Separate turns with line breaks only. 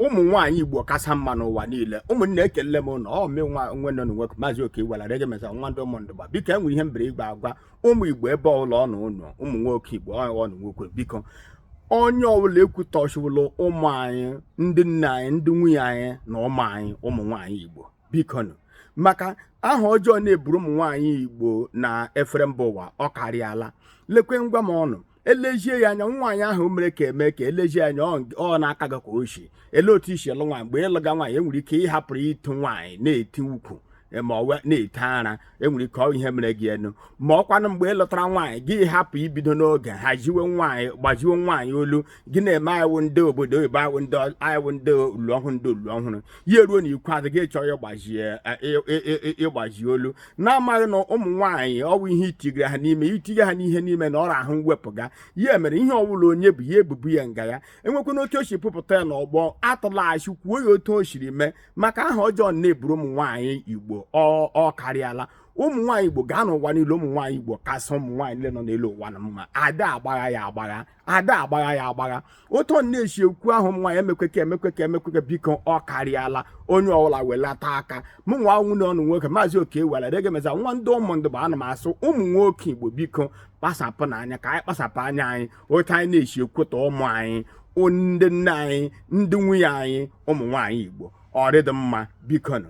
ụmụ nwaanyị igbo kasa mma n'ụwa niile ụmụnne ekele m unu ọ mụ nwanne unu nwoke maazị oke gwara rege mesa nwa ndị ụmụndụba biko enwere ihe m bịara ịgwa agwa ụmụ igbo ebe ọbụla unu nọ ụmụ nwoke igbo unu nwoke biko onye ọbụla ekwutọchiwala ụmụ anyị ndị nne anyị ndị nwunye anyị na ụmụ anyị ụmụ nwaanyị igbo bikonu maka aha ọjọọ na-eburu ụmụ nwaanyị igbo na efere mba ụwa ọ karịala lekwe nwa mmọnwụ elezie ya anya nwaanyị ahụ mere ka eme ka elezie anya ọ na-aka gị ka o si ele otu i si lụ nwaanyị mgbe ị lụga nwaanyị enwere ike ị hapụrụ ịtụ nwaanyị na-eti ukwu ma ọ wụ na-eti ara enwere ike ọ ihe mere gị enu ma ọkwanụ mgbe ị lụtara nwaanyị gị hapụ ibido n'oge haziwe nwaanyị gbaziwe nwaanyị olu gị na-eme a wụ ndị obodo oyibo a wụ ndị a wụ ndị ulu ọhụrụ ndị ulu ọhụrụ ya eruo n'ikpeazụ gị chọọ ịgbazie ịgbazi olu na-amaghị na ụmụ nwaanyị ọ wụ ihe i tinyere ha n'ime i tinye ha n'ihe n'ime na ọ ra ahụ mwepụ ga ya mere ihe ọbụla onye bu ya ebu bu ya nga ya enwekwana otu o si bupụta ya n'ọgbọ a tụlaghachi kwuo ya otu o siri mee maka aha ọjọọ na-eburu ụmụ nwaanyị igbo ọ karịala ụmụ nwaanyị igbo gaa n'ụwa niile ụmụ nwaanyị igbo kasị ụmụ nwaanyị niile nọ n'elu ụwa na mma ada agbagha ya agbagha ada agbagha ya agbagha otu unu na-esi ekwu ahụ ụmụ nwaanyị emekweke emekweke emekweke biko ọ karịala onye ọbụla welata aka mụ nwa nwanne unu nwoke maazị oke were dege meza nwa ndị ụmụndụba ana m asị ụmụ nwoke igbo biko kpasapụnụ anya ka anyị kpasapụ anya anyị otu anyị na-esi ekwutọ ụmụ anyị ndị nne anyị ndị nwunye anyị ụmụ nwaanyị Igbo ọ dịghị mma biko nụ